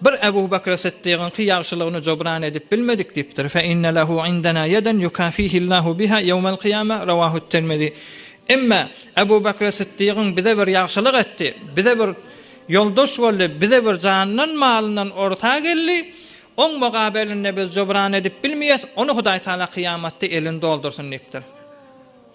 Bir Ebu Bekr Siddigyňky ýagşylygyny jobran edip bilmedik diýipdir, Fe inne lehu indena ýeden ýukafihillahu biha ýewmel kyýame, Rawahut Tirmizi. Emma Ebu Bekr Siddigyň bize bir ýagşylyk etdi, bize bir ýoldaş boldy, bize bir janyndan, malyndan orta geldi, oň mugabelinde biz jobran edip bilmeýäs, ony Hudaý Tagala kyýamatda elini doldursyn diýipdir.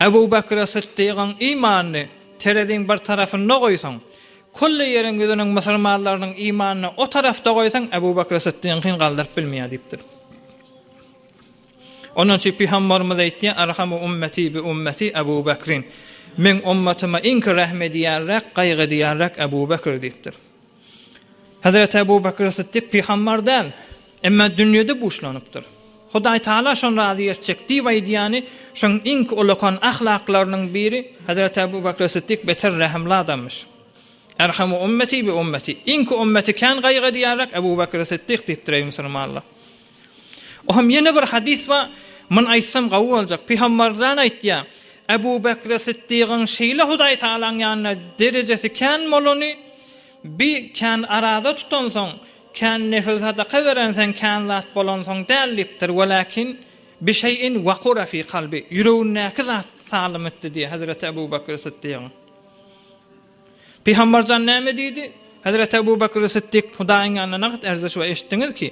Ebu Bekre Sytdygyň imanyny tereziň bir tarapynda goýsaň, külli ýeriň ýüzüniň musulmanlarynyň imanyny o tarapda goýsaň, Ebu Bekre Sytdygyňkyny galdyryp bilmeýär diýipdir. Ondan üçin Pygambarymyz aýtýar, Erhamu ummeti bi ummeti Ebu Bekrin, Meň ummatyma iňki rähm edýänräk, gaýgy edýänräk Ebu Bekir diýipdir. Hezreti Ebu Bekr Sytdyk pygambar däl, emma dünýede buşlanypdyr. Hudaý Taala şony razy etjek diýip aýdýany şoň iňk ulakan ahlaklarynyň biri Hezreti Ebu Bekr Sytdyk beter rehimli adammyş. Erhamu ummeti bi ummeti, iňk ummeti kän gaýgy edýärek Ebu Bekr Sytdyk diýipdir eý musulmanlar. O hem ýene bir hadys bar, muny aýtsam gawy boljak, Pygambarjan aýtýar, Ebu Bekri Sytdygyň şeýle Hudaý Tagalaň ýanynda derejesi kän bolany, bi kän araza tutansoň, kän nefil sadaka berensoň kän zat bolansoň däl diýipdir, welakin bi şeýin waqura fi kalbi, ýüregindäki zat salym etdi diýýär Hezreti Ebu Bekri Sytdygyň. Pygamberjan näme diýdi? Hezreti Ebu Bekr Siddik, Hudaýyň ýanynda nagt erziş we eşitdiňiz ki,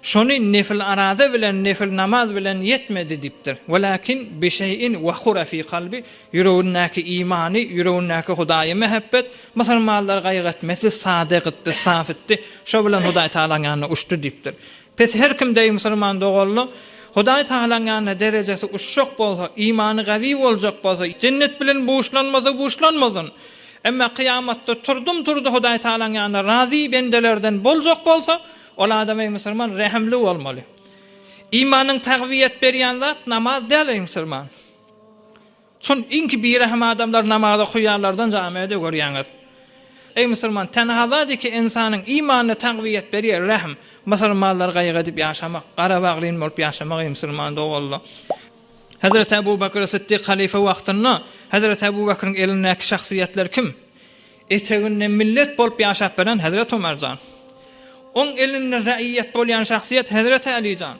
şony nefil araza bilen, nefil namaz bilen ýetmedi diýipdir. Welakin bi şeýin wahura fi kalbi, ýüregindäki imany, ýüregindäki Hudaýa mähebbet, musulmanlary gaýgy etmesi, sadyk etdi, saf etdi, şo bilen Hudaýtagalaň ýanyna uçdy diýipdir. Pes her kim deý musulman doganlyk Hudaý Tagalaň ýanynda derejesi uçjak bolsa, imany gawy boljak bolsa, jennet bilen buşlanmasa buşlanmasyn. Emma kyýamatda turdum turdy Hudaý Tagalaň ýanynda razy bendelerden boljak bolsa, ol adam eý musulman rehimli bolmaly. Imanyň tagwiýet berýän zat namaz däl eý musulman. Çün inki birahim adamlar namaza kuýýarlardan jamiä-de görýäňiz. Eý musurman, tenhazadyk ki insanyň imanyna tagwiýet berýär, rahm. Musurmanlar gaýgy edip ýaşamak, gara bagryn bolup ýaşamak eý musurman doganlar. Hazreti Abu Bakr Siddik halyfa wagtynda Hazreti Abu Bakryň elindäki şahsyýetler kim? Eteginde millet bolup ýaşap beren Hazreti Omar jan. Oň elinde raýýat bolýan şahsyýet Hazreti Aly jan.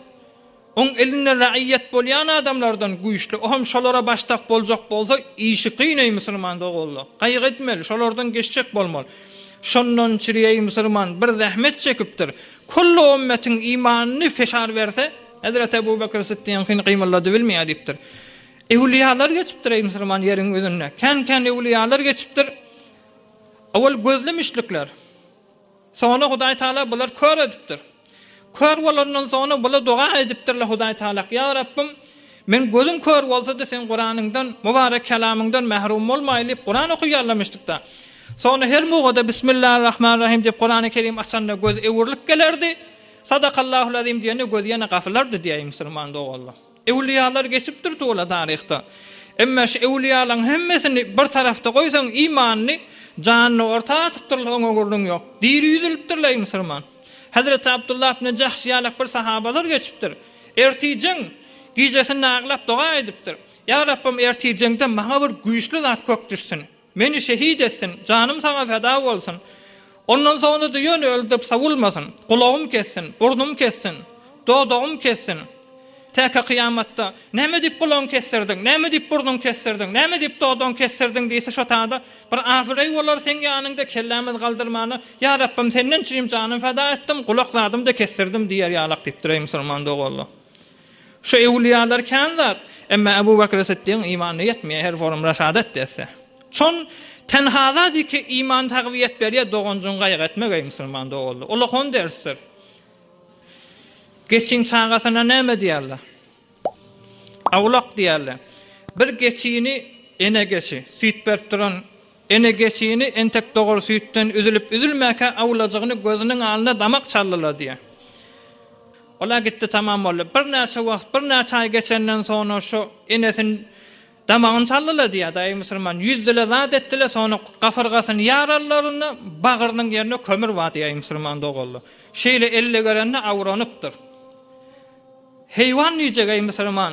Oň elinde raýýat bolýan adamlardan güýçli, o hem şolara başdak boljak bolsa, işi kyn eý musulman doganlar. Gaýgy etmeli, şolardan geçjek bolmaly. Şondan çyry eý musulman, bir zähmet çekipdir. Kullu ümmetin imanyny feşar berse, Hezreti Ebu Bekr Sytdygyň hini gymyldadybilmeýär diýipdir. Ewliýalar geçipdir eý musulman ýeriň ýüzünde. Kän-kän ewliýalar geçipdir. Owal gözlemişlikler. Soňra Hudaý Taala bular kör edipdir. Kör bolandan soňra bular doga edipdirler Hudaý Taalak, Ýa Rabbym, men gözüm kör bolsa-da Seň Kuranyňdan, Mubarek Kelamyňdan mährum bolmaýyn diýip Kuran okaýarlamyşdykda. Soňra her mugada Bismillah Rahman Rahim diýip Kurany Kerim açanda göz öwrülip gelerdi, Sadakallahul Azim diýende göz ýene gafylardy diýäýi musulman doganlar. Ewliýalar geçipdir tuwla taryhda. Emma şu ewliýalaň hemmesini bir tarapda goýsaň imanyny, janyny orta atypdyrlar oňa gürrüň ýok. Diri ýüzülipdirler eý musurman. Hezreti Abdullah ibne Jahş ýalak bir sahabalar geçipdir. Ertirjeň gijesinde aglap doga edipdir. Ýa Rabbym ertirjeňde maňa bir güýçli zat kök düşsün. Meni şehit etsin, janym saňa feda bolsun. Ondan soňra-da ýöne öldürip sowulmasyn. Gulagym kessin, burnum kessin, dodagym kessin. Täke kyýamatda, Näme diýip gulagyňy kesdirdiň? Näme diýip burnuňy kesdirdiň? Näme diýip dodagyňy kesdirdiň? diýse, şo tada bir abyreý bolar Seň ýanyňda kellämizi galdyrmana. Ýa Rabbym, Senden çynym janym feda etdim, gulak zadym-da kesdirdim diýer ýalak diýipdir, eý, musulman doganlar! Şu ewliýalar kän zat, emma Abu Bakr Siddigiň imany ýetmeýär, her forum raşadat etse. Çon tenhada diki iman tagwiýet berýär, doganjyň gaýgy etmek eý musulman doganlar. Ulakon dersdir. Geçiň çagasyna näme diýerler? Awlak diýerler. Bir geçini ene geçi, süýt berip duran Ene geçini entek dogar süýtden üzülip-üzülmäkä awlajygyny gözüniň alnyna damak çalyladýar. Ol-a gitdi tamam boldy. Birnäçe wagt, birnäçe aý geçenden soňra şo enesini damagyny çalyladýar daýy musulman. Ýüzdi-le zat etdi-le soňra gafyrgasyny ýarallarynda bagrynyň ýerine kömür badýar musulman doganlar. Şeýle elle görende awranypdyr. Heýwan diýjek-eý musulman.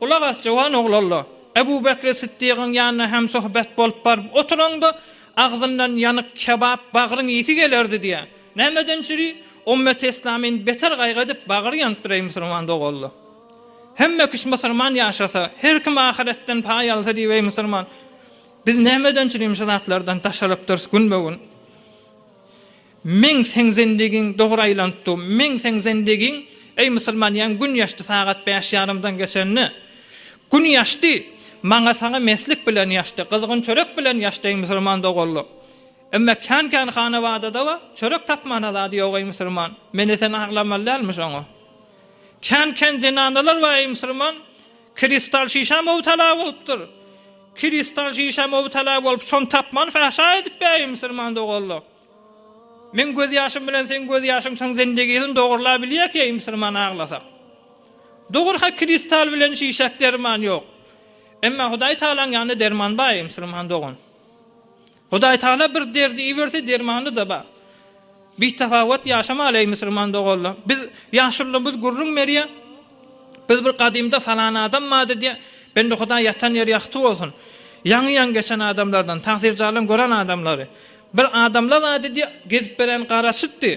Gulak as, jöwan ogul Alla! Ebu Bekri Syddygyň ýanyna hemsohbet bolup baryp oturaňda, agzyndan ýanyk kebap bagryň isi gelerdi diýýär. Nämeden çüri? Omma teslamyn beter gaýgy edip bagry ýanypdyr, eý musurman doganlar! Hemme kişi musurman ýaşasa, her kim ahyretden paý alsa diýip, eý musurman! Biz nämeden çürim şu zatlardan daşarypdyrys günbe-gün? Meň seň zendigiň dogry aýlanypdy. Meň seň zendigiň, eý musulman ýaň gün ýaşdy sagat bäş ýarymdan geçende. Gün ýaşdy, maňa saňa meslik bilen ýaşdy, gyzgyn çörek bilen ýaşdy eý musulman doganlar. Emma kän kän hanabadadawa çörek tapmana zady ýok eý musulman. Meni sen aglamaly dälmi şoňa. Kän kän zenanalar bar eý musulman, kristal şişä mowtala bolupdyr. Kristal şişä mowtala bolup şony tapman fahşa edip ber eý musulman doganlar. Meň göz ýaşym bilen seň göz ýaşyň şyň zendegisin dogurla bilýä keý musulman aglasak. Dogur ha kristal bilen şişak derman ýok. Emma Hudaý Taalaň ýanynda derman bar eý musulman dogan. Hudaý Taala bir derdi iberse dermany da bar. Bi tapawat ýaşamaly eý musulman doganla. Biz ýaşullymyz gürrüň berýä. Biz bir gadymda falan adam bardy diýä. Bende Hudaý ýatan ýeri ýagty bolsun. Ýaňy ýaňy geçen adamlardan, tagsir jalan gören adamlary. Bir adamla zady diýip gezip beren garaşypdy.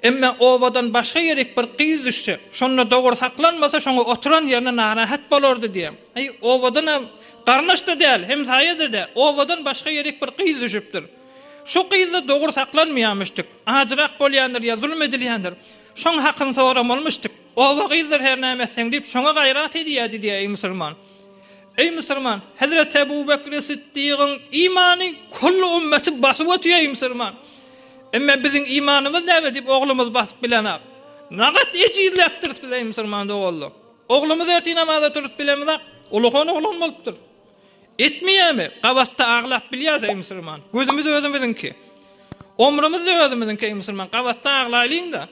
Emme obadan başga ýerik bir gyz düşse, şonda dogry saklanmasa şoňa oturan ýerine narahat bolardy diýýär. Aý, obadan-a garnaş-da däl, hemsaýa-da däl, obadan başga ýerik bir gyz düşüpdir. Şu gyz-da dogry saklanmaýamyşdyk. Ajyrak bolýandyr ýa zulum edilýändir. Şoň hakyny soramalmyşdyk. Oba gyzdyr hernäme etseň diýip şoňa gaýrat edýärdi diýýär eý musulman. Eý musurman! Hezreti Ebu Bekri Sytdygyň imany külli ümmeti basyp ötýär, eý musurman! Emme biziň imanymyz näme diýip oglumyzy basyp bilenok? Nagat ejizläpdiris biz, eý musurman doganlar! Oglumyz ertir namaza turup bilemizok, ulakan oglan bolupdyr. Etmeýärmi? Gabatda aglap bilýäris, eý musurman! Gözümiz özümiziňki. Omrumyz-da özümiziňki, eý musurman! Gabatda aglaýlyň-da!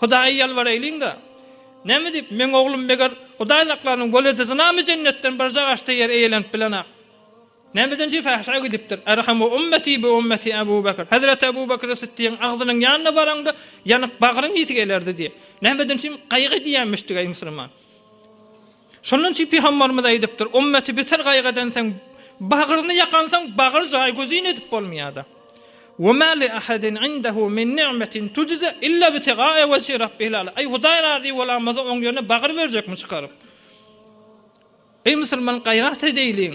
Hudaýa ýalbaraýlyň-da, Näme diýip, meň oglum meger hudaýzaklarynyň weladyzynamy jennetden bir jagaşda ýer eýelenip bilenak? Nämeden jüýs ähşä gidipdir? Erhamu ummeti bi ummeti Abu Bekr. Hezreti Abu Bekr Sytdygyň agzynyň ýanyna baraňda, ýanyk bagryň ýiti gelerdi diýip, nämeden üçin gaýgy edýänmişdi-gaý musulman? Şondan üçin pygambarymyz aýdypdyr, Ummeti beter gaýgy edensoň, bagryny ýakansoň, bagyr jaý gözin edip bolmaýada. We ma li ahadin indehu min ni'metin tujza illa btiga'a wejhi rabbihil a'la. Aý Hudaý razy bolanmasa oň ýerine bagyr berjekmi çykaryp? Eý musulman gaýrat edeýliň.